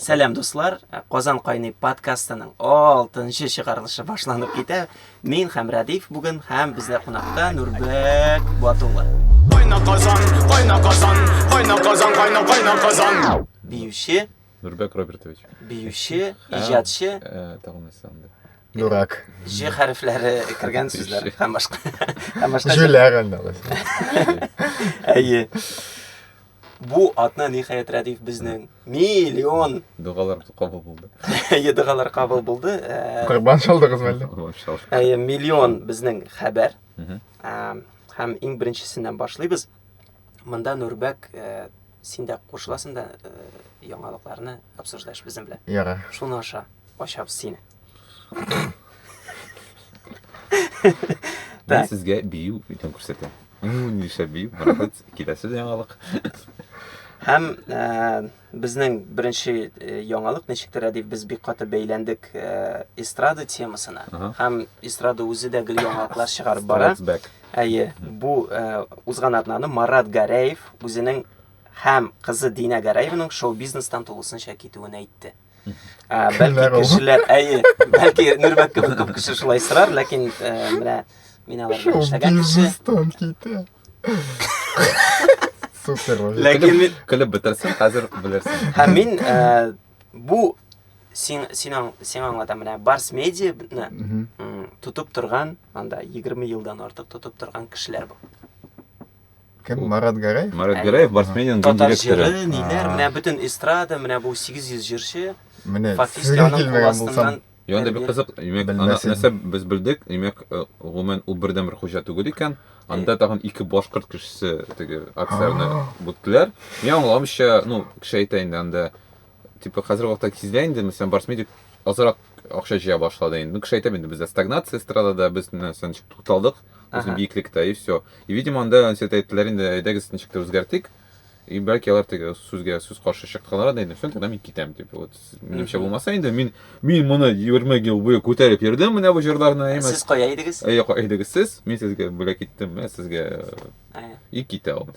Сәлам дуслар, Казан кайный подкастының 6нчы чыгарылышы башланып китә. Мин һәм Радиф бүген һәм бездә кунакта Нурбек Батулла. Кайна Казан, кайна Казан, кайна Казан, кайна кайна Казан. Биюче Нурбек Робертович. Биюче, иҗатчы. Э, тагын нәрсә анда. Дурак. Ж хәрефләре кергән сүзләр һәм башка. Һәм башка. Җүләр андалас. Әйе. Бу атна ниһаять Радиф безнең миллион дугалар кабул булды. Әйе, дугалар кабул булды. Э, Корбан шалдыгыз мәллә? Әйе, миллион безнең хәбәр. Һәм иң беренчесеннән башлыйбыз. Монда Нурбәк э, син дә кушыласың да э, яңалыкларны обсуждаешь безнең белән. Ярар. Шуны аша ачабыз сине. Мин сезгә бию итен күрсәтәм. Мин нишләп бию? Молодец, киләсе яңалык. Һәм э, безнең беренче э, яңалык ничектер дип без бик каты бәйләндек э, эстрада темасына. Һәм эстрада үзе дә гел яңалыклар чыгарып бара. Әйе, бу э, узган атнаны Марат Гәрәев үзенең һәм кызы Дина Гәрәевның шоу-бизнестан тулысынча китүен әйтте. Ә, бәлки кешеләр, әйе, бәлки нөрбәк кебек күп кеше шулай сорар, ләкин ә, менә мин алар белән эшләгән кеше. Тон китә. Супер. Ләкин мин көлеп бетерсен, хәзер белерсең. Һәм мин ә, бу син син син аңлата менә Барс медиа тотып торган, анда 20 елдан артык тотып торган кешеләр бу. Кем? Марат Гәрәев? Марат Гәрәев Барсменин дин директоры. Татар җыры, ниләр, менә бөтен эстрада, менә бу 800 җырчы. Менә фактически аның кул астыннан Яны да бик кызык, имәк, ана нәрсә без белдек, имәк, э, гомумән ул бердән бер хуҗа түгел икән. Анда тагын ике башкорт кешесе теге акцияне бүттеләр. Мин аңламыйча, ну, кеше әйтә инде анда типа хәзерге вакытта сизелә инде мәсәлән барс медик азрак акча җыя башлады инде ну кеше әйтә инде бездә стагнация эстрадада без нәрсә ничек тукталдык үзен биеклектә и все и видимо анда ансет әйттеләр инде әйдәгез ничек тә үзгәртик и бәлки алар теге сүзгә сүз каршы чыкканнар да инде все тогда мин китәм дип вот минемчә булмаса инде мин мин моны егерме ел буе күтәреп йөрдем менә бу җырларны әмма сез кая идегез әйе кая идегез сез мин сезгә бүләк иттем менә сезгә и китә ул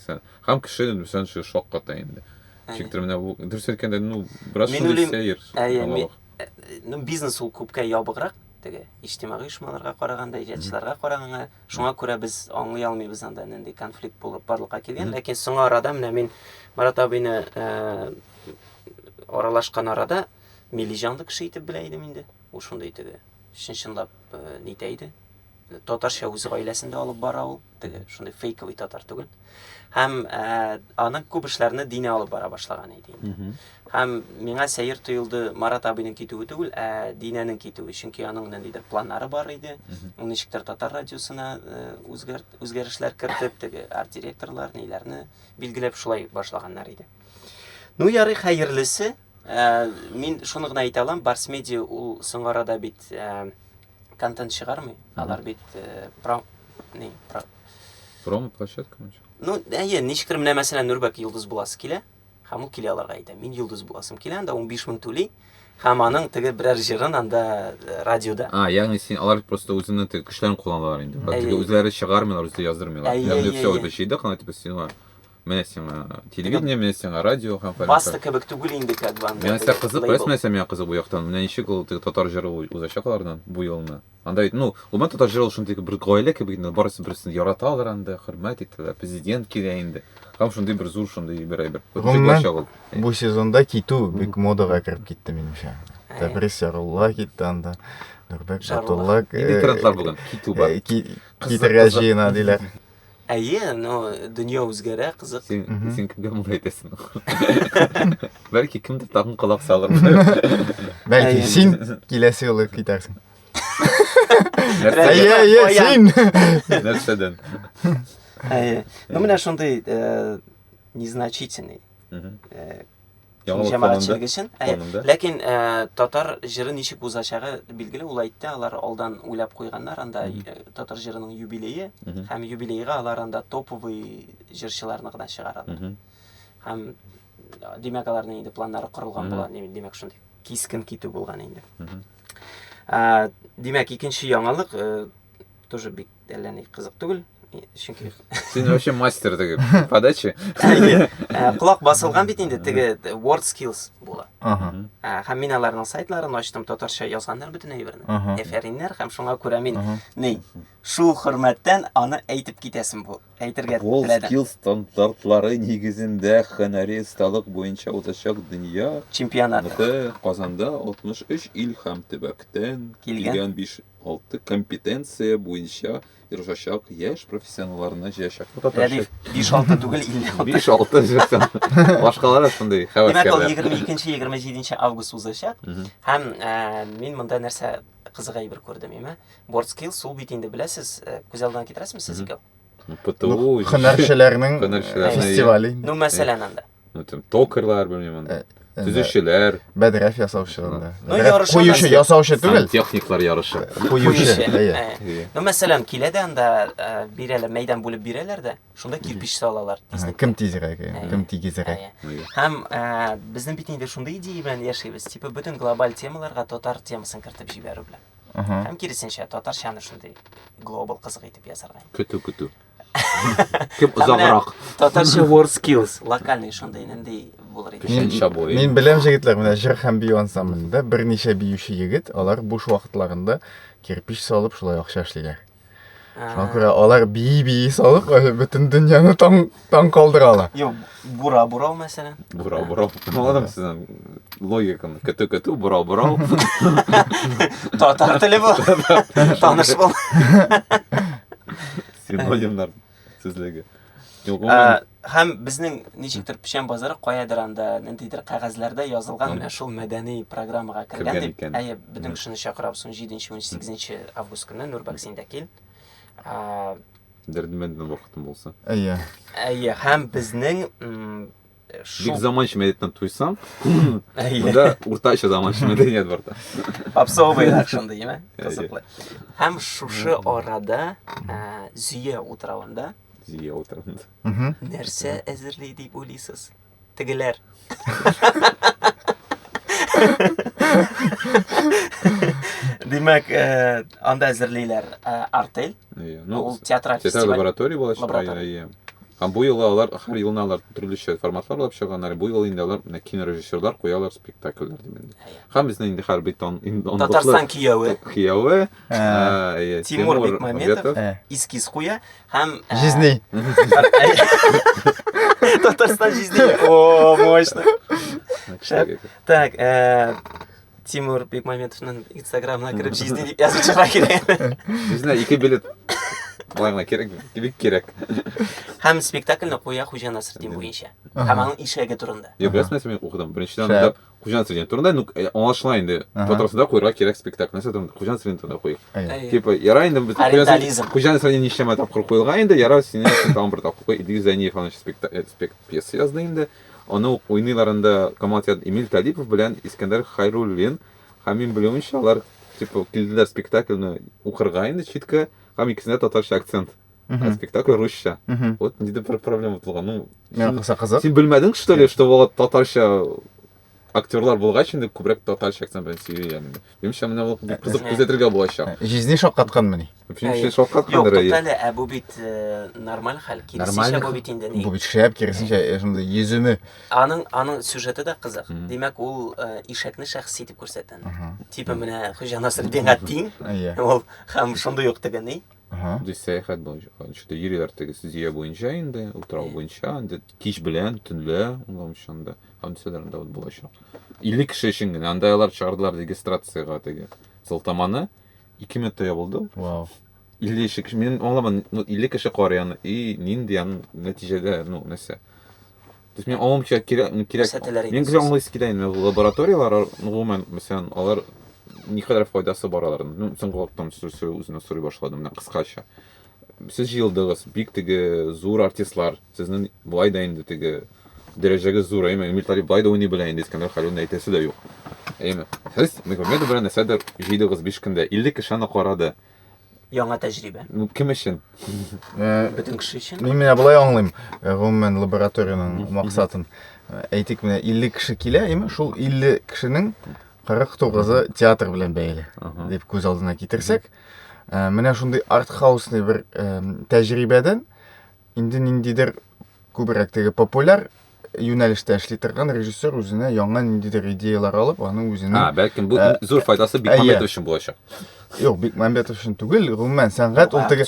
һәм кеше шакката инде Ничектер менә бу дөрес әйткәндә, ну, бераз шундый сәер. Әйе, ну, бизнес ул күпкә ябыграк теге иҗтимагый оешмаларга караганда, иҗатчыларга караганда, шуңа күрә без аңлый алмыйбыз анда нинди конфликт булып барлыкка килгән. Ләкин соңа арада менә мин Марат абыйны э, аралашкан арада милли җанлы кеше итеп белә идем инде. Ул шундый теге чын-чынлап э, нитә иде, татарча үз гаиләсен дә алып бара ул, теге шундый фейковый татар түгел. Һәм ә, э, аның күп эшләрне дине алып бара башлаган иде инде. Һәм миңа сәер тоелды Марат абыйның китүе түгел, ә динәнең китүе, чөнки аның ниндидер планнары бар иде. Ул ничектер татар радиосына э, үзгәрт үзгәрешләр кертеп, теге арт-директорлар ниләрне билгеләп шулай башлаганнар иде. Ну ярый хәерлесе, э, мин шуны гына әйтә алам, Барс Медиа ул соңарада бит контент чыгармый. Алар бит э, пром... не, про... Промо площадка мынча. Ну, әйе, ничкер менә мәсәлән Нурбәк Йолдыз буласы килә. Һәм ул килә аларга әйтә, мин Йолдыз буласым килә, анда 15 мең түли. Һәм аның теге берәр җырын анда э, радиода. А, ягъни син алар просто үзенең теге көчләрен кулланалар инде. Алар Әйе. теге үзләре чыгармыйлар, үзе яздырмыйлар. Әйе, Ягъни әйе, все әйе. это чыйдык, ана типа сиңа Менә сиңа телевидение, менә сиңа радио һәм фәлән. Баста кебек түгел инде как бы анда. Менә сиңа кызык, беләсең, менә сиңа кызык бу яктан. Менә ничек ул теге татар җыры узачак алардан бу елны. Анда бит, ну, гомумән татар җыры ул шундый бер гаилә кебек инде, барысы берсен яраталар анда, хөрмәт итәләр, президент килә инде. Һәм шундый бер зур шундый бер әйбер. Гомумән, бу сезонда китү бик модага кереп китте минемчә. Тәбрис Ярулла китте анда. Нурбәк Батулла. Нинди тренд бар бүген? Китү бар. Китергә җыена диләр. Әйе, но дөнья үзгәрә, кызык. Син, Мгм. син кемгә моны әйтәсең? Бәлки кемдер тагын колак салыр. Бәлки Әйе. син киләсе юлы китәрсең. Нәрсә- Әйе, әйе, Аян. син. Нәрсәдән? Әйе. Ну, менә шундый э, незначительный Мгм. э, Яңа җәмәгать чиргечен. Ләкин э, татар җыры ничек узачагы билгеле, ул әйтте, алар алдан уйлап куйганнар, анда э, татар җырының юбилее, һәм юбилейга алар анда топовый җырчыларны гына чыгаралар. Һәм димәк аларның инде планнары корылган була, димәк шундый кискен китү булган инде. Ә, димәк икенче яңалык э, тоже бик әллә ни кызык түгел чөнки син вообще мастер теге подача колак басылган бит инде теге word skills була һәм мин аларның сайтларын ачтым татарча язганнар бөтен әйберне әфәриннәр һәм шуңа күрә мин ни шул хөрмәттән аны әйтеп китәсем бу әйтергә word skills стандартлары нигезендә һөнәри осталык буенча узачак дөнья чемпионаты казанда 63 ил һәм төбәктән килгән 5 Алты компетенция буенча ярышачак яшь профессионалларны җыячак. Рәдиф, 5-6 түгел, 56. 5-6 җырсан. Башкалар шундый хәвәскәрләр. Димәк, ул 22-27 август узачак. Һәм э, мин монда нәрсә кызык әйбер күрдем, име? Board skills, ул бит инде беләсез, э, күз алдына китерәсезме сез икәү? ПТУ. Хөнәрчеләрнең фестивале. Ну, мәсәлән, анда. Ну, там, токарьлар, белмим, аны. Төзүчеләр. Бәдрәф ясаучы анда. Ну, ярышы. Куючы, ясаучы түгел. Техниклар ярышы. Куючы. Ну, мәсәлән, килә дә анда бирәләр, мәйдан бүлеп бирәләр дә, шунда кирпич салалар. Кем тизрәк, кем тигезрәк. Һәм безнең бит инде шундый идея белән яшибез, типа бөтен глобаль темаларга татар темасын кертеп җибәрү белән. Һәм киресенчә, татарчаны шундый глобал кызык итеп ясарга. Көтү, көтү. Кем озаграк? Татарча word skills, локальный шундый нинди булыр иде. Мин, мин беләм җегетләр, менә җыр һәм бию ансамблендә берничә биюче егет, алар буш вакытларында кирпич салып шулай акча эшлиләр. Шуңа күрә алар бии-бии салып, бөтен дөньяны таң, таң калдыралар. Юк, Бура бурау мәсәлән. Бурау бурау. Аңладым сезнең логиканы. Көтү көтү, бурау бурау. Татар теле бу. Таныш бул. Синонимнар сүзлеге. Юк, Ә, гомумән, Һәм безнең ничектер печән базары каядыр анда ниндидер кәгазьләрдә язылган менә шул мәдәни программага кергән Кергән дип. икән. Әйе, бөтен кешене чакырабыз 17-18 август көнне Нурбәк син дә кил. Ә, Дәрдемәнд белән вакытым булса. Әйе. Әйе, һәм безнең Бик заманча мәдәниятен туйсаң, монда уртача заманча мәдәният бар да. Попсовыйлар шундый, яме? Кызыклы. Һәм шушы арада Зөя утравында Зөя утравында. Нәрсә әзерли дип уйлыйсыз? Тегеләр. Димәк, э, анда әзерлиләр э, артель. Иә, ну, Ул театраль театр фестиваль. лаборатория булачак. Лаборатория. Иә, иә. Һәм бу юлы алар һәр елны алар төрлечә форматлар алып чыганнар. Бу юлы инде алар менә кинорежиссерлар куялар спектакльләр дип инде. Һәм безне инде хәрби тон ин- он Татарстан кияве. кияве Ә, әйе, Тимур Бекмаметов, Бекмаметов. Искиз куя һәм ә, Жизней. Татарстан жизни. О, мощно. Шәп. Так, ә, Тимур Бекмаметовның инстаграмына кереп жизни дип язып чыга кирәк. Үзенә ике билет. Болай гына кирәк, бик кирәк. Һәм спектакльне куя Хуҗа Насретдин буенча. Һәм аның ишәге турында. Я беләсең нәрсә мин укыдым? Беренчедән Шәп. анда Хуҗан студент турында, ну, э, аңлашыла инде. Ага. Патросны да куярга кирәк спектакль. Нәрсә турында? Хуҗан студент турында куй. Әйе. Әйе. Типа, яра инде бит Ориентализм. Хуҗан студент ничәмә тапкыр куелган инде, яра сине тагын бер тапкыр куй. Идил Зәниев аны спекта- э, спект пьеса язды инде. Аны ук уйныйлар анда Камал театры Эмиль Талипов белән Искәндәр Хайруллин. Һәм мин белүемчә, алар типа килделәр спектакльне укырга инде читкә, һәм икесендә татарча акцент. Мгм. А спектакль русча. Мгм. Вот нидә бер проблема булган. Ну, Миңа син, калса кызык. син белмәдең, что ли, что вот татарча актерлар булгач инде күбрәк татарча акцент белән сөйли янде. Минемчә, менә ул бик кызык күзәтергә булачак. Җизни шаккатканмыни? Минемчә, Юк, шаккаткандыр әйе. туктале, ә бу бит э, нормаль хәл. Киресенчә Нормаль бу хәл. бит инде ни. Бу бит шәп, киресенчә, э, шундый йөземе. Аның аның сюжеты да кызык. Мгм. Димәк, ул э, ишәкне шәхси дип күрсәтә. Мгм. Типа менә Хуҗа Насретдинга тиң, Әйе. ул һәм шундый ук теге ни. Ага. Ди сәяхәт буенча. Что йөриләр тегес зөя буенча инде, утрау Э. буенча, инде кич белән, төнлә, улам шунда. Һәм дисәләр анда вот булачак. 50 кеше өчен генә. Анда алар чыгардылар регистрациягә теге сылтаманы. 2 минутта ябылды ул. Вау. 50 кеше. Мин аңламадым, ну 50 кеше кар яны и нинди ан нәтиҗәдә, ну нәрсә. То есть мин аңламыйча кирәк, ну, кирәк. Күрсәтәләр инде Мин гүзә сосын. аңлыйсы килә инде. Лабораторияләр, ар- ну, гомумән, мәсәлән, алар никадәр файдасы бар аларның. Ну, соңгы вакыттан су- су- үзенә сорый башладым, менә кыскача. Сез җыелдыгыз, бик теге зур артистлар. Сезнең болай да инде теге дәрәҗәгез зур, әйме? Эмиль Талип болай да уйный белә инде, Искәндәр Хәлилне әйтәсе дә юк. Әйме? Сез Магомедов белән нәрсәдер җыйдыгыз биш көндә, 50 кеше аны карады. Яңа тәҗрибә. Кем өчен? Э, Бөтен кеше өчен. Мин менә болай аңлыйм, э, гомумән лабораториянең максатын. Э, әйтик, менә 50 кеше килә, яме шул 50 кешенең 49-ы театр белән бәйле, дип күз алдына китерсәк, менә шундый артхаусный бер тәҗрибәдән инде ниндидер күбрәк теге популяр юнәлештә эшли торган режиссер үзенә яңа ниндидер идеялар алып, аның үзенең А, бәлкем бу ә, зур файдасы Бикмәмбетов өчен булачак. Юк, Бикмәмбетов өчен түгел, гомумән сәнгать ул теге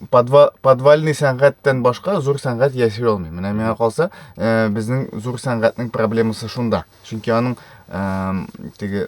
подва, подвальный сәнгатьтән башка зур сәнгать яши алмый. Менә миңа калса, ә, безнең зур сәнгатьнең проблемасы шунда. Чөнки аның ә, теге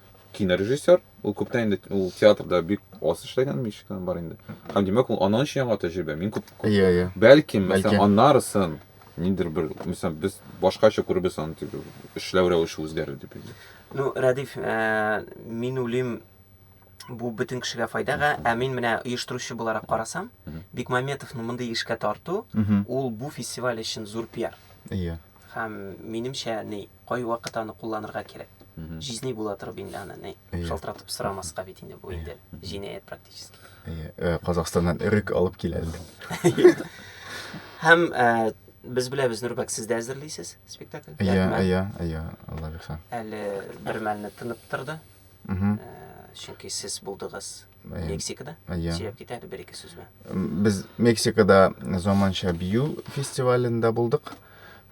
кинорежиссер, ул күптән инде ул театрда бик аз эшләгән, мичек кенә бар инде. Һәм димәк, ул аның өчен яңа тәҗрибә. Мин күп, күп Иә, иә. бәлкем, Бәлкем. мәсәлән, аннарысын ниндер бер, мәсәлән, без башкача күребез аны дип, эшләү рәвеше үзгәрер дип. инде. Ну, Рәдиф, ә, мин уйлыйм, бу бөтен кешегә файдага, ә мин менә оештыручы буларак карасам, Мгм. Бикмаметовны мондый эшкә тарту, Мгм. ул бу фестиваль өчен зур пиар. Иә. Һәм минемчә, ни, Кайвакыт аны кулланырга кирәк. Җизни була торып инде аны, ни, шалтыратып сорамаска бит инде бу инде җинаять практически. Әйе, Казахстаннан эрек алып килә әле. Һәм без беләбез, Нурбәк, сез дә әзерлисез спектакль? Әйе, әйе, әйе, Алла бирса. Әле бер мәлне тынып торды. Чөнки сез булдыгыз Мексикада yeah. сөйләп китә әле бер-ике сүз белән. Без Мексикада заманча бию фестивалендә булдык.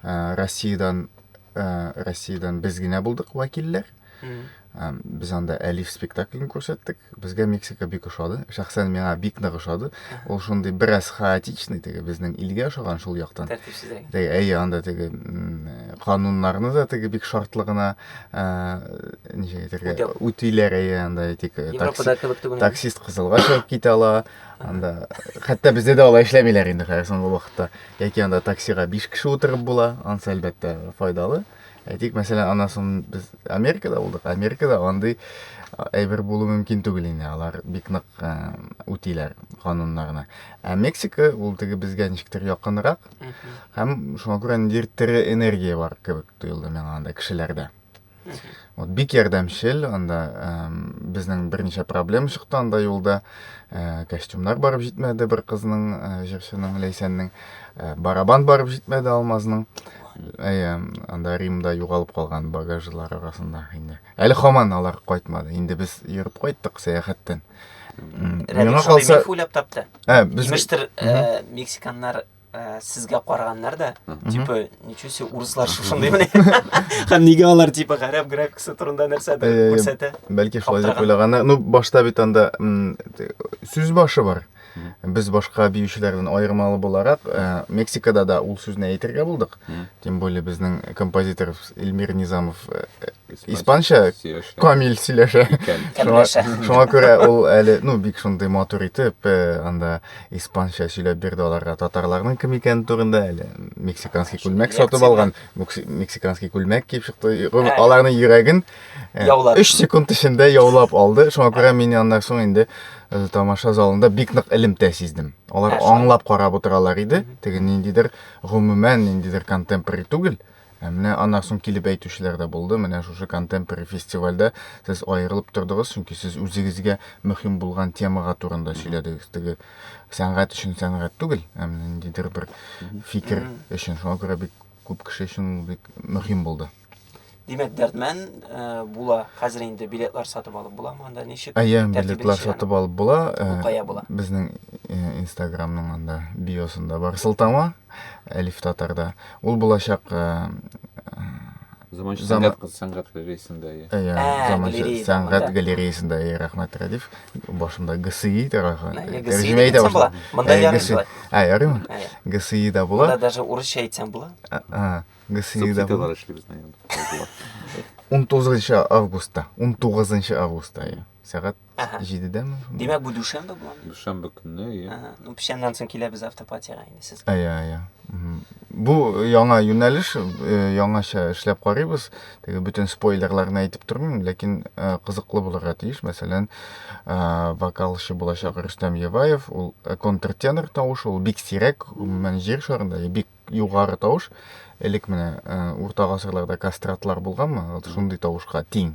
Э, Россиядән э, Россиядән без генә булдык вәкилләр. Э, без анда Әлиф спектаклен күрсәттек. Безгә Мексика бик ошады. Шәхсән миңа бик нык ошады. Ул шундый бераз хаотичный, теге безнең илгә ошаган шул яктан. Тәртипсез. Әйе, анда теге кануннарны да теге бик шартлыгына ничек әйтергә үтүләр әйе анда әйтик таксист кызылга чыгып китә ала анда хәтта бездә дә алай эшләмиләр инде хәзер соңгы вакытта яки анда таксига биш кеше утырып була анысы әлбәттә файдалы әйтик мәсәлән аннан соң без америкада булдык америкада андый әйбер булу мөмкин түгел инде алар бик нык үтиләр кануннарны ә мексика ул теге безгә ничектер якынрак һәм шуңа күрә ниндидер тере энергия бар кебек тоелды миңа анда кешеләрдә. Вот бик ярдәмчел, анда безнең берничә проблема чыкты анда юлда. Э, костюмнар барып җитмәде бер кызның, э, җырчының, Ләйсәннең. Э, барабан барып җитмәде Алмазның. Әйе, анда Римда югалып калган багажлар арасында инде. Әле хаман алар кайтмады. Инде без йөреп кайттык сәяхәттән. Миңа калса, уйлап тапты. Ә, без мексиканнар ә, сезгә караганнар да типа ничего себе урыслар шушындый менә һәм нигә алар типа гарәп графикасы турында нәрсәдер күрсәтә бәлки шулай дип уйлаганнар ну башта бит анда сүз башы бар без башка биючеләрдән аермалы буларак ә, мексикада да ул сүзне әйтергә булдык тем более безнең композитор эльмир низамов ә, Испанча камил сөйләшә. Шуңа, шуңа күрә ул әле, ну, бик шундый матур итеп, э, анда испанча сөйләп бирде аларга татарларның кем икәне турында әле. Мексиканский күлмәк сатып алган, мексиканский күлмәк киеп чыкты. Аларның йөрәген 3 э, секунд эчендә яулап алды. Шуңа күрә мин аннан соң инде э, тамаша залында бик нык элемтә сиздем. Алар аңлап карап утыралар иде. Теге ниндидер гомумән ниндидер контемпорари түгел. Ә менә аннан соң килеп әйтүчеләр дә булды, менә шушы контемпори фестивальдә сез аерылып тордыгыз, чөнки сез үзегезгә мөһим булган темага турында сөйләдегез. Теге сәнгать өчен сәнгать түгел, ә менә ниндидер бер фикер өчен. Шуңа күрә бик күп кеше өчен ул бик мөһим булды. Димәк, Дәрдмән э, була. Хәзер инде билетлар сатып алып буламы анда? Ничек? Әйе, тәртибе билетлар ничек? сатып алып була. Э, Бу кая була? Безнең э, Инстаграмның анда биосында бар сылтама. Әлиф татарда. Ул булачак Заманча сәнгать кыз сәнгать галереясында. Әйе, заманча сәнгать галереясында, әйе, рәхмәт, Рәдиф. Башымда ГСИ тарафы. Тәрҗемә итә була. Монда ярыйсы. Ә, ярыймы? ГСИ да була. Монда даже урысча әйтсәң була. А, ГСИ да була. Субтитрлар эшлибез. 19 августта. 19 августта, әйе. Сәгать Ага. Җидедәме? Димәк, бу дүшәмбе була. Дүшәмбе көнне, иә. Ага. Ну, печәннән соң киләбез автопатиягә инде сез. Иә, иә. Бу яңа юнәлеш, яңача эшләп карыйбыз. Теге бөтен спойлерларны әйтеп тормыйм, ләкин кызыклы булырга тиеш. Мәсәлән, вокалчы булачак Рөстәм Еваев, ул контртенор тавыш, ул бик сирәк, гомумән җир шарында бик югары тавыш. Элек менә урта гасырларда кастратлар булганмы? Вот шундый тавышка тиң.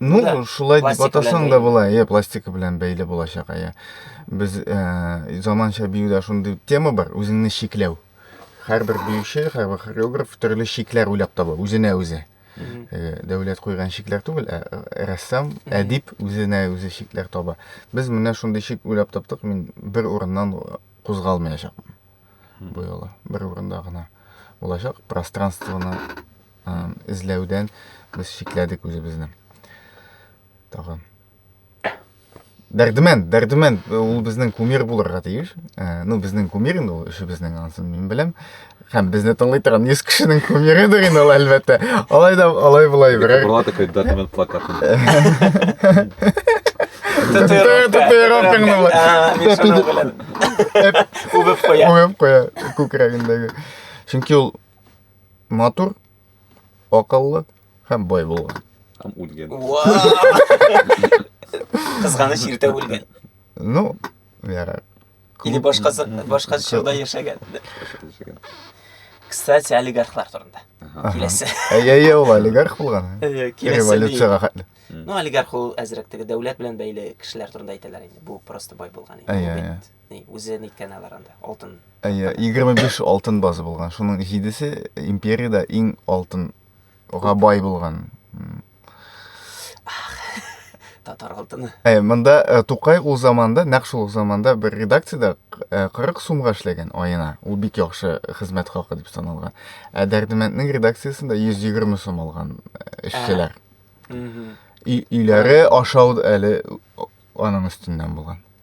Ну, да, шулай дип атасаң да була, иә, пластика белән бәйле булачак, иә. Без ә, заманча биюдә шундый тема бар, үзеңне шикләү. Һәрбер биюче, һәрбер хореограф төрле шикләр уйлап таба, үзенә үзе. Э, дәүләт куйган шикләр түгел, ә э, рәссам, әдип үзенә үзе шикләр таба. Без менә шундый шик уйлап таптык, мин бер урыннан кузгалмаячакмын. Бу юлы бер урында гына булачак, пространствоны эзләүдән без чикләдек үзебезне. Тагын. Дәрдемән, дәрдемән, ул безнең кумир булырга тиеш. Ә, ну, безнең кумир инде ул, эшебезнең ансын мин беләм. Һәм безне тыңлый торган 100 кешенең кумирыдыр инде ул, әлбәттә. Алай да, алай булай берәр. Була такой дәрдемән плакатын. Татуировкаңны була. Үбеп куя. Үбеп куя, күкрәгендәге. Чөнки ул Матур, акыллы һәм бай булган. Һәм үлгән. Кызганыч иртә үлгән. Ну, яра. Или башкасы башка чорда яшәгән. Кстати, олигархлар турында. Киләсе. Әйе, әйе, ул олигарх булган. Революцияга хәтле. Ну, олигарх ул әзрәк теге дәүләт белән бәйле кешеләр турында әйтәләр инде. Бу просто бай булган инде. Әйе, әйе. Ни, үзе ниткән алар анда, алтын. Әйе, 25 алтын базы булган. Шуның җидесе империядә иң алтынга бай булган. Татар алтыны. Әйе, монда э, Тукай ул заманда, нәкъ шул ук заманда бер редакциядә э, 40 сумга эшләгән аена. Ул бик яхшы хезмәт хакы дип саналган. Ә Дәрдемәнднең редакциясендә 120 сум алган э, эшчеләр. Мгм. Өй- Өйләре ашау әле аның өстеннән булган.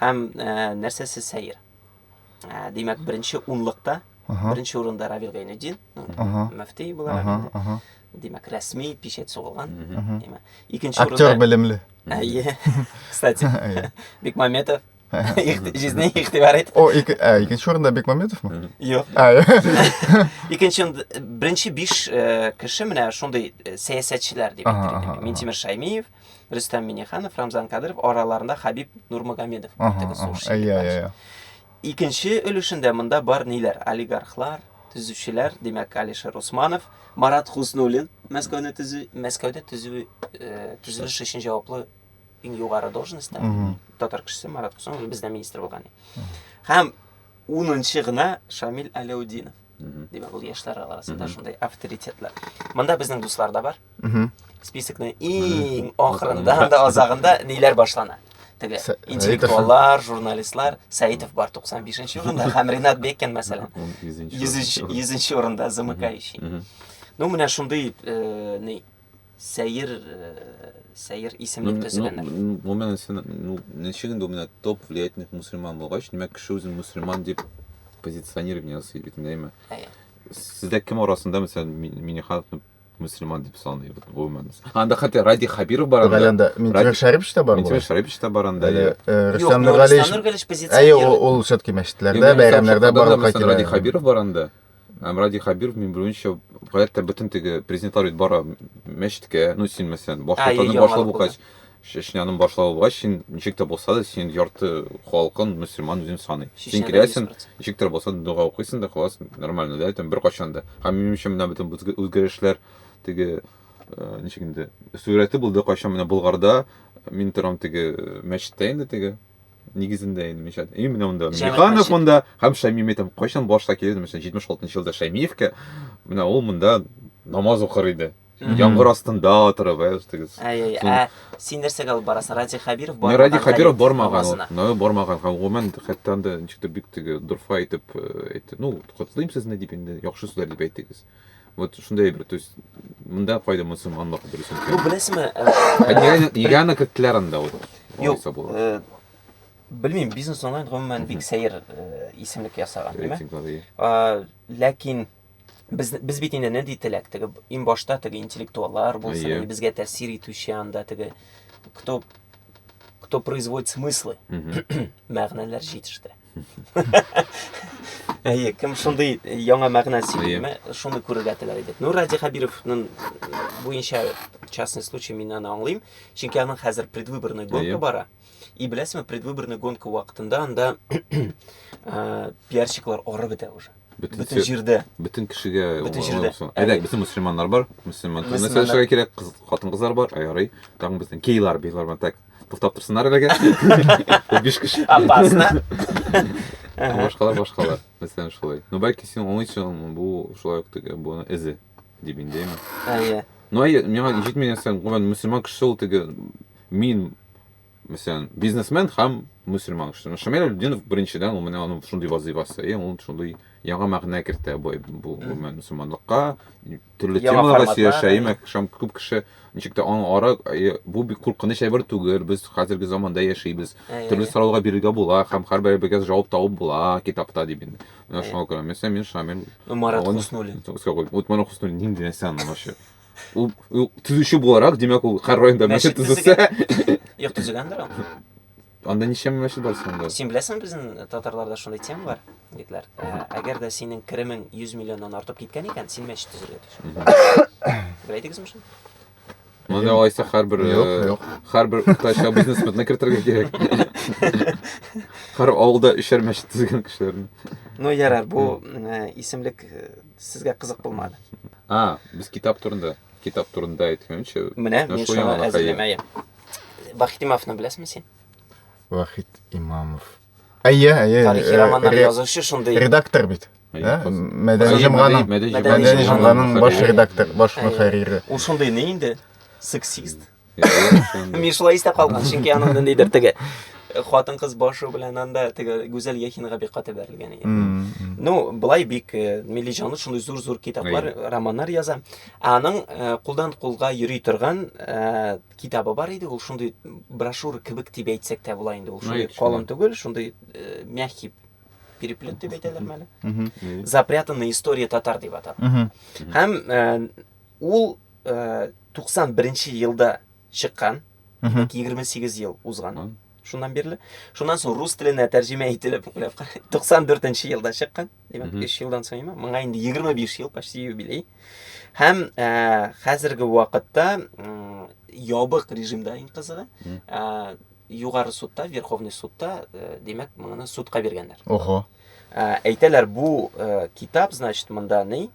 Һәм ә, нәрсәсе сәер? Ә, димәк, беренче унлыкта, ага. беренче урында Равил Гайнеддин, ну, ага. мөфти буларак ага, инде. Ага. Димәк, рәсми печать сугылган. Икенче урында... Актер белемле. Әйе, кстати. Бекмаметов. Жизнь игътибар ит. О, икенче урында Бекмаметов ма? Юк. Икенче беренче биш кеше менә шундый сәясәтчеләр дип әйтелгән. Минтимер Шаймиев, Рөстәм Миниханов, Рамзан Кадыров араларында Хабиб Нурмагомедов. Икенче өлешендә монда бар ниләр? Олигархлар, төзүчеләр, димәк, Алишер Усманов, Марат Хуснуллин, Мәскәүне төзү, Мәскәүдә төзү, э, төзелеш өчен җаваплы иң югары должностьта татар кешесе Марат Хуснуллин бездә министр булган. Һәм 10 гына Шамил Аләудинов. димәк ул яшьләр арасында шундый авторитетлар монда безнең дуслар да бар списокның иң ахырында һәм дә азагында ниләр башлана теге интеллектуаллар журналистлар сәитов бар туксан бишенче урында һәм ринат бекин мәсәлән йөзенче урында замыкающий ну менә шундый э, ни Сәер, сәер исемле ну, төзеләнер. Ну, ну, ну, мен сен, ну, ничек инде менә топ влиятельных мусульман булгач, димәк кеше үзен мусульман дип позиционирование ясый бит инде, әйме? Әйе. Сездә кем арасында, мәсәлән, Минихановны мусульман дип саный гомумән. Анда хәтта Ради Хабиров бар анда. Анда Минтимер Шәрипш та бар. Минтимер Шәрипш та бар анда. Рөстәм Нургалиев. Әйе, ул все-таки мәчетләрдә, бәйрәмнәрдә барлыкка килә. Ради Хабиров бар анда. Һәм Радий Хәбиров, мин белүемчә, гаять тә бөтен теге президентлар бит бара мәчеткә, ну син мәсәлән, башлыкның башлыгы булгач, Чечняның башлыгы булгач, син ничек тә булса да, син ярты халкын мөселман үзен саный. Син киләсең, ничек тә булса дога укыйсың да, хәлас, нормально, да, там беркайчан да. Һәм минем өчен менә бөтен үзгәрешләр теге э, ничек инде, сүрәте булды кайчан менә Болгарда, мин торам теге мәчеттә инде теге нигезендә инде мишәт и менә монда миханов монда һәм шәйми мәйтәм кайчан башта килде мәсәлән җитмеш алтынчы елда шәймиевкә менә ул монда намаз укыр иде яңгыр астында отырып ә үстегез ә син нәрсәгә алып барасың радик хәбиров бармаган радик хәбиров бармаган ул бармаган һәм гомумән хәтта анда ничектер бик теге дорфа итеп әйтте ну котлыйм сезне дип инде яхшы сүзләр дип әйтегез Вот шундай бер, то есть, монда кайда мусульманлык дөрес икән. Ну, беләсеңме? Ә нигә аны керттеләр анда вот? Юк, э, белмим, бизнес онлайн гомумән бик сәер э, исемлек ясаган, димме? Ләкин без без бит инде нинди теләк, теге иң башта теге интеллектуаллар булсын, безгә тәэсир итүче анда теге кто кто производит смыслы, мәгънәләр җитештерә. Әйе, кем шундый яңа мәгънә сөйләме, шуны күрергә теләр идек. Ну, Радий Хабировның буенча частный случай мин аны аңлыйм, чөнки аның хәзер предвыборный гонка бара. И беләсезме, предвыборный гонка вакытында анда пиарщиклар орып бетә уже. Бөтен җирдә. Бөтен кешегә. Бөтен җирдә. Әйдәк, бөтен мусульманнар бар. Мусульман. Мәсәлән, кирәк, хатын-кызлар бар, аярый. Тагын безнең гейлар, бейлар бар, так. Туктап торсыннар әлегә. Биш кеше. Опасно. Башкалар, башкалар. Мәсәлән, шулай. Ну, бәлки син уңый чыгымы, бу шулай ук теге, буны эзе, дип индейме? Әйе. Ну, әйе, миңа җитми нәрсәң, гомән, мусульман кеше ул теге, мин, мәсәлән, бизнесмен һәм мусульман кеше. Ну, Шамил Абдинов, беренчедән, ул менә аның шундый вазыйфасы, и ул шундый яңа мәгънә кертә бу, бу гомән, мусульманлыкка, төрле Яңа темаларга форматлар, сөйләшәем, әйе. акшам күп кеше ничек тә аң ара, әйе, бу бик куркыныч әйбер түгел, без хәзерге заманда яшибез. Әйе, Төрле әйе. сораулар бирергә була һәм һәрберебезгә җавап табып була китапта дип инде. Менә шуңа күрә мәсәлән мин Шамил Ну, Марат Аны- Хуснуллин. Искә куй. Вот Марат Хуснуллин нинди нәрсә аны вообще? Ул ул төзүче буларак, димәк, ул һәр районда мәчет Мәчет төзесә, Йорт төзегәндер ул. Анда ничә мәчет бар соңда? Син беләсең, безнең татарларда шундый тема бар, егетләр. Ә, Әгәр дә синең керемең 100 миллионнан артып киткән икән, син мәчет төзергә тиеш. Беләйдегезме шуны? Моны алайса һәрбер Юк, э, юк. һәрбер уртача бизнесменны кертергә кирәк. Һәр авылда өчәр мәчет төзегән кешеләрне. Ну, ярар, бу э, исемлек э, сезгә кызык булмады. А, без китап турында. Китап турында әйткәнче. Менә, Ну, мин шул шуны яңалык, әзерләмәем. Вахит Имамовны беләсеңме син? Вахит Имамов. Әйе, әйе. Тарихи э, романнар ре- язучы шундый. Редактор бит. Әйе, Ә? хас- Мәдәни Мәдәни- җомганың Мәдәни Мәдәни Мәдәни җомганың җомганың баш мөхәррире. редактор, баш Әйе. мөхәррире. Ул шундый ни инде? Сексист. Мин шулай истә калган, чөнки аның ниндидер теге хатын кыз башы белән анда теге Гүзәл Яхинга бик каты бәрелгән иде. М, м. Ну, былай бик э, милли җанлы шундый зур-зур китаплар, романнар яза. Аның кулдан кулга йөри торган китабы бар иде, ул шундый брошюра кебек дип әйтсәк тә була инде, ул шундый калын түгел, шундый мягкий переплет дип әйтәләр мәле. Запрятанная история татар дип атап. Һәм ул 91 елда чыккан. Димәк, 28 ел узган шуннан бирле. Шуннан соң рус теленә тәрҗемә ителеп, 94 нче елда чыккан. Димәк, 3 елдан соң имә, моңа инде 25 ел почти юбилей. Һәм э, хәзерге вакытта ябык режимда иң кызыгы. Э, югары судта, Верховный судта, э, димәк, моны судка биргәннәр. Ого. Әйтәләр, бу китап, значит, монда ни?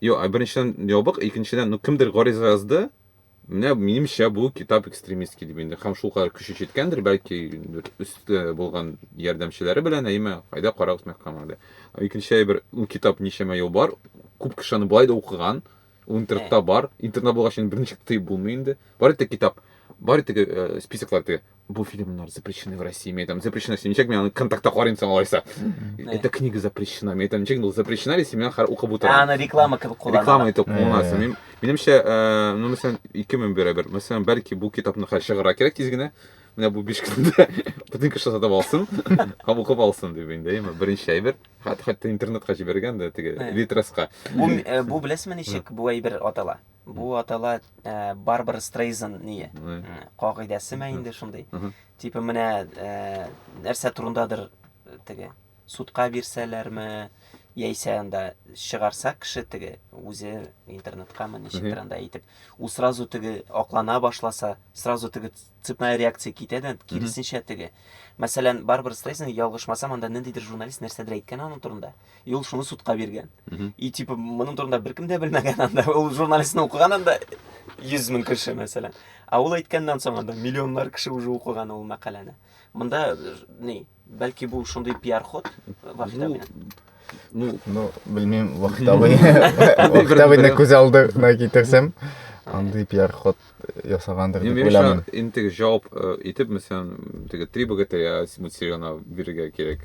Йо, ә беренчедән ябык, икенчедән, ну кемдер гариза язды. Менә минемчә бу китап экстремистский дип инде. Һәм шул кадәр көче җиткәндер, бәлки бер өсте э, булган ярдәмчеләре белән, әйме, кайда карагыз мәхкәмә әле. Ә Икенче әйбер, ул китап ничәмә ел бар, күп кеше аны былай да укыган, ул интернетта бар, интернетта булгач инде берничек тыеп булмый инде. Бар итте китап, бар итте э, списоклар теге, Бу фильмнар запрещены в России. Мен айтам, запрещено сен ничек, мен аны контактта карыйм соң алайса. Эта книга запрещена. Мен айтам, ничек, ну запрещена ли сен хар укып утырам. Ә аны реклама кебек куллана. Реклама итеп кулланасың. Мин минемчә, э, ну мәсәлән, ике мең бирәбер. Мәсәлән, бәлки бу китапны хәл чыгара кирәк тиз генә. Менә бу 5 көндә бөтен кеше сатып алсын, һәм укып алсын дип инде, яме беренче әйбер. Хәтта интернетка җибәргән дә теге литраска. Бу э, бу беләсезме ничек бу әйбер атала? Бу атала Барбара Стрейзан ние. Кагыйдәсе мә инде шундый. Типа менә нәрсә турындадыр теге судка бирсәләрме, яисә анда чыгарса кеше теге үзе интернеткамы ничектер анда әйтеп ул сразу теге аклана башласа сразу теге цепная реакция китә дә киресенчә теге мәсәлән барбара стрейзен ялгышмасам анда ниндидер журналист нәрсәдер әйткән аның турында И ул шуны судка биргән. И типа моның турында беркем дә белмәгән анда. Ул журналистны укыган анда 100 мең кеше мәсәлән. А ул әйткәннән соң анда миллионнар кеше уже укыган ул мәкаләне. Монда э, ни, бәлки бу шундый пиар ход вахида белән. Ну, ну, белмим, вахтабый. Вахтабыйны күз алдына китерсәм, андый пиар ход ясагандыр дип уйламыйм. Инде җавап э, итеп, мәсәлән, теге три богатыря Симут Сирена бирергә кирәк.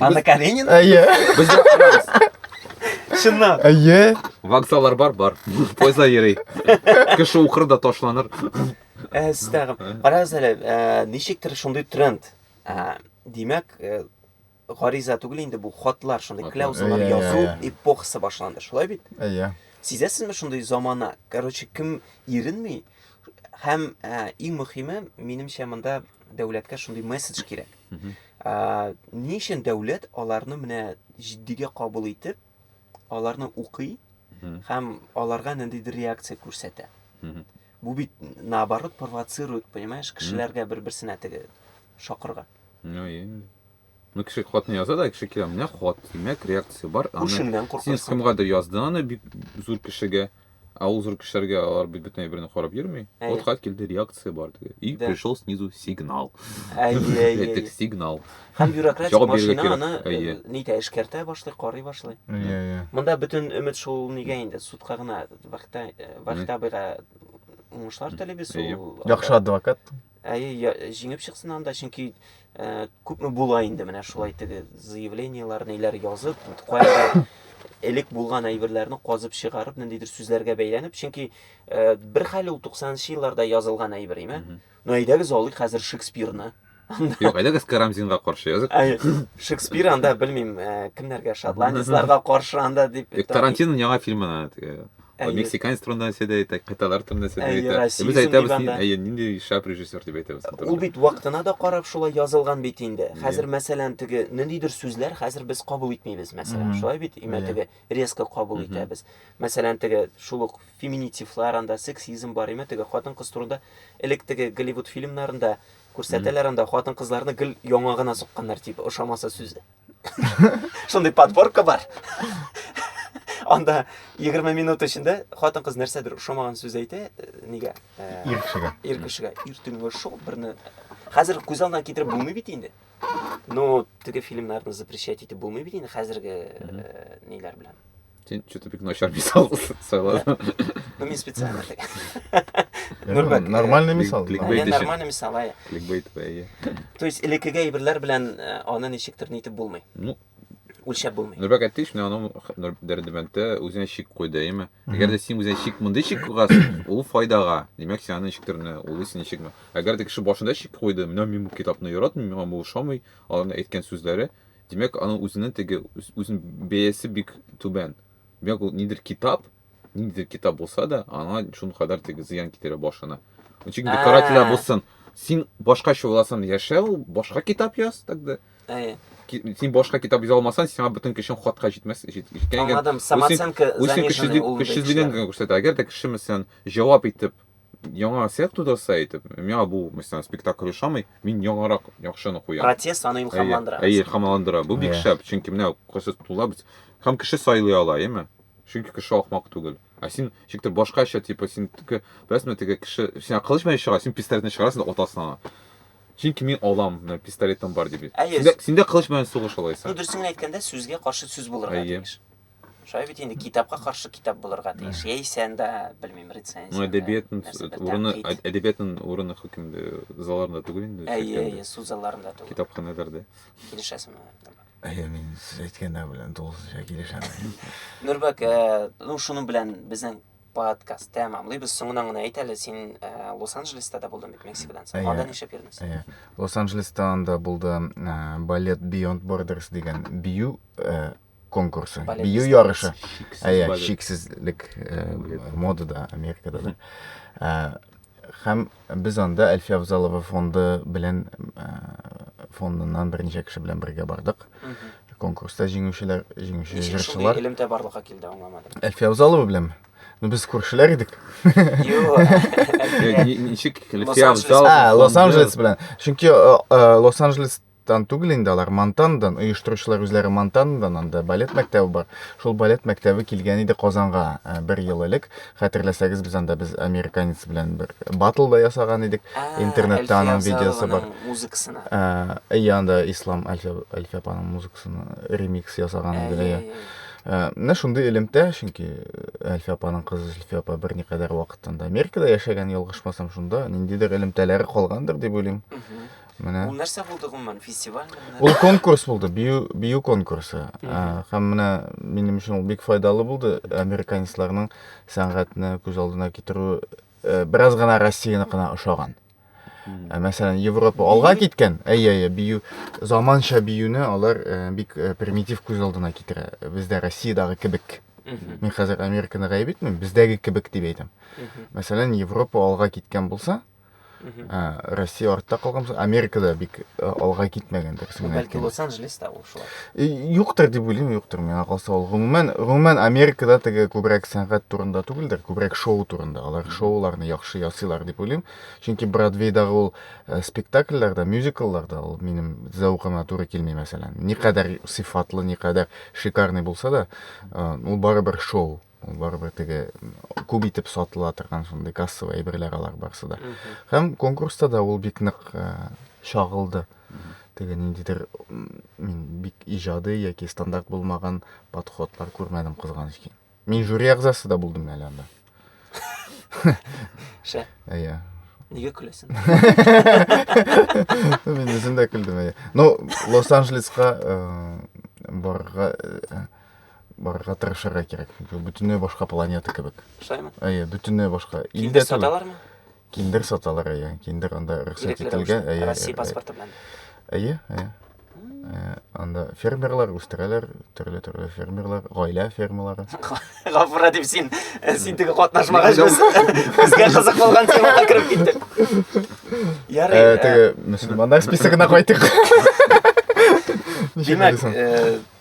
Анна Каренина? Әйе. Бездә барабыз. Чыннан. Әйе. Вокзаллар бар, бар. Поезда йөри. Кеше укыр да ташланыр. Ә, сез тагын. Карагыз әле, ә, ничектер шундый тренд. Ә, Димәк, ә, гариза түгел инде бу хатлар, шундый Хатлар. кляузалар Иә, иә, язу иә. эпохасы башланды. Шулай бит? Әйе. Сизәсезме шундый замана? Короче, кем иренми? Һәм ә, иң мөһиме, минемчә, монда дәүләткә шундый месседж кирәк. Ә, ни өчен дәүләт аларны менә җитдигә кабул итеп, аларны укый һәм аларга ниндидер реакция күрсәтә. Бу бит наоборот провоцирует, понимаешь, кешеләргә бер-берсенә теге шакырга. Ну, и... Ну, кеше хатны яза да, кеше килә, менә хат, димәк, реакция бар. Күршеңнән куркасың. Син кемгәдер яздың аны бик зур кешегә. Кеше Ә ул зур кешеләргә алар бит бөтен әйберне карап йөрми. Әйе. Вот хат килде, реакция бар теге. И Да. пришел снизу сигнал. Әйе, әйе, Әйтек әйе. сигнал. Һәм бюрократик Җавап бирергә машина кирәк. аны э, Әйе. нитә эшкәртә башлый, карый башлый. Әйе, әйе. Монда бөтен өмет шул нигә инде судка гына Вахта э, Вахтабыйга уңышлар телибез. Әйе. Ул Яхшы адвокат. Әйе, я- җиңеп чыксын анда, чөнки э, күпме була инде менә шулай теге заявлениелар, ниләр язып, кайбер элек булган әйберләрне казып чыгарып, ниндидер сүзләргә бәйләнеп, чөнки э, бер хәл ул 90-нчы елларда язылган әйбер, име? Мгм. Ну, әйдәгез алыйк хәзер Шекспирны. Юк, әйдәгез Карамзинга каршы язык. Әйе, Шекспир анда, белмим, э, кемнәргә, шотландецларга каршы анда дип. Юк, Тарантиноның яңа фильмына теге Әйе. Мексиканец турында нәрсә дә әйтә, кытайлар турында нәрсә дә әйтә. Без әйтәбез, әйе, нинди шәп режиссер дип әйтәбез. Ул бит вакытына да карап шулай язылган бит инде. Хәзер мәсәлән теге ниндидер сүзләр хәзер без кабул итмибез, мәсәлән, шулай бит, имә теге резко кабул итәбез. Мәсәлән, теге шул ук феминитивлар анда, сексизм бар, имә теге хатын-кыз турында элек теге Голливуд фильмнарында күрсәтәләр анда хатын-кызларны гел яңагына сукканнар, типа, ошамаса сүзе. Шундый подборка бар. Анда 20 минут эчендә хатын кыз нәрсәдер ошамаган сүз әйтә, э, нигә? Э, ир кешегә. Ир кешегә. Ир төнге шул берне хәзер күз алдына китереп булмый бит инде. Ну, теге фильмнарны запрещать итеп булмый бит инде хәзерге э, ниләр белән. Сен что-то бик начар мисал сайладың. Ну, мен специально. Нурбек. Нормальный мисал. Кликбейт өчен. Нормальный мисал, ай. Кликбейт, ай. То есть, элекеге әйберләр белән э, аны ничектер нитеп булмый. Ну, үлчәп булмый. Нурбек әйтте шуны аның дәрдемәнтә үзенә шик куйды, әйме? Әгәр дә син үзеңә шик мондый шик куйгансың, ул файдага. Димәк, син аны ничектер не ул син шикме? Әгәр дә кеше башында шик куйды, менә мин бу китапны яратмыйм, миңа бу ошамый, аларның әйткән сүзләре, Димәк, аның үзенең теге үзен бәясе бик түбән. Димәк, ул нидер китап, ниндидер китап булса да, аңа шул кадәр теге зыян китерә башына. Чөнки бу карателя булсын. Син башка чуласын яшәү, башка китап яз тогда. Әйе. Син башка китап яза алмасаң, сиңа бүтән кешең хатка җитмәс. Җиткәнгә. Аңладым. Самооценка заниженный ул. Кешелеген күрсәтә. Әгәр дә кеше мәсәлән җавап итеп яңа сет тудырса әйтеп, миңа бу мисалдан спектакль ошамый, мин яңарак яхшыны куям. Протест аны илһамландыра. Әйе, илһамландыра. Бу бик шәп, чөнки менә кайсы тулап һәм кеше сайлый ала, әйеме? Чөнки кеше ахмак түгел. Ә син шиктер башкача, типа син теге, беләсеңме, теге кеше, син кылыч белән чыга, син пистолетны чыгарасың да атасың аңа. Чөнки мин алам, менә пистолетым бар дип. Әйе. Синдә, синдә кылыч белән сугыш алайса. Ну, дөресен генә әйткәндә, сүзгә каршы сүз булырга тиеш. Шулай бит инде китапка каршы китап булырга тиеш. Яисә анда, белмим, рецензия. Ну, әдәбиятның урыны, әдәбиятның урыны хөкемдә залларында түгел инде. Әйе, әйе, суд залларында түгел. Китапханәләрдә. Килешәсеңме? Әйе, мин сез әйткәндә белән тулысынча килешәм. Нурбәк, э, ну шуның белән безнең подкаст тәмамлыйбыз. Соңынан гына әйт әле, син э, Лос-Анджелеста да булдың бит Мексикадан соң. Анда нишләп йөрдең? Әйе. Лос-Анджелеста анда булды э, балет Beyond Borders дигән бию конкурсы, бию ярышы. Әйе, шиксезлек э, модада Америкада да. Э, һәм без анда Әлфия Авзалова фонды белән э, фондыннан берничә кеше белән бергә бардык. Конкурста җиңүчеләр, җиңүче җырчылар. Элемтә барлыкка килде, аңламадым. Әлфия Авзалова беләнме? Ну без күршеләр идек. Ничек Лос-Анджелес белән. Чөнки Лос-Анджелес Тан түгел инде алар, Монтандан, оештыручылар үзләре Монтандан, анда балет мәктәбе бар. Шул балет мәктәбе килгән иде Казанга бер ел элек. Хәтерләсәгез, без анда без американец белән бер батл да ясаган идек. Интернетта аның видеосы бар. Музыкасына. Әйе, анда Ислам Әлфия апаның музыкасына ремикс ясаган иде. Э, менә шундый элемтә чөнки э, әлфия апаның кызы зөлфия апа берникадәр вакыттан да америкада яшәгән ялгышмасам шунда ниндидер элемтәләре калгандыр дип уйлыйм Менә. Ул нәрсә булды гомумән, фестивальме? Ул конкурс булды, бию, бию конкурсы. Ә, һәм менә минем өчен ул бик файдалы булды. Американецларның сәнгатьне күз алдына китерү э, бераз гына Россияныкына ошаган. Ә, мәсәлән, Европа алга киткән, әйе, әйе, бию, заманча биюне алар э, бик э, примитив күз алдына китерә. Бездә Россиядагы кебек. Мин хәзер Американы гаеп итмим, бездәге кебек дип әйтәм. Мәсәлән, Европа алга киткән булса, Россия артта калган, Америкада бик алга китмәгән дөресен Бәлки Лос-Анджелеста ул шулай. Юктыр дип уйлыйм, юктыр. Миңа калса ул гомумән, гомумән Америкада теге күбрәк сәнгать турында түгелдер, күбрәк шоу турында. Алар шоуларны яхшы ясыйлар дип уйлыйм. Чөнки Бродвейдагы ул спектакльләрдә, мюзиклларда ул минем зәвыкыма туры килми, мәсәлән. Никадәр сыйфатлы, никадәр шикарный булса да, ул барыбер шоу. ул барыбер теге күп итеп сатыла торган шундый кассовый әйберләр алар барысы да һәм конкурста да ул бик нык э, чагылды теге ниндидер мин бик иҗади яки стандарт булмаган подходлар күрмәдем кызганыч ки мин жюри әгъзасы да булдым әле анда шә иә неге күләсең мин үзем дә күлдем иә ну лос анджелесқа э, барырга э, барырга тырышырга кирәк. Чөнки бөтенләй башка планета кебек. Шулаймы? Әйе, бөтенләй башка. Илдә түгел. Саталармы? Киндер саталар, әйе. Киндер анда рөхсәт ителгән, әйе. Россия паспорты белән. Әйе, әйе. Э, анда фермерлар үстерәләр, төрле-төрле фермерлар, гаилә фермалары. Гафура дип син, э, син теге катнашмагач без безгә кызык булган темага кереп киттек. Ярый. Э, теге мөселманнар списогына кайтыйк. Димәк,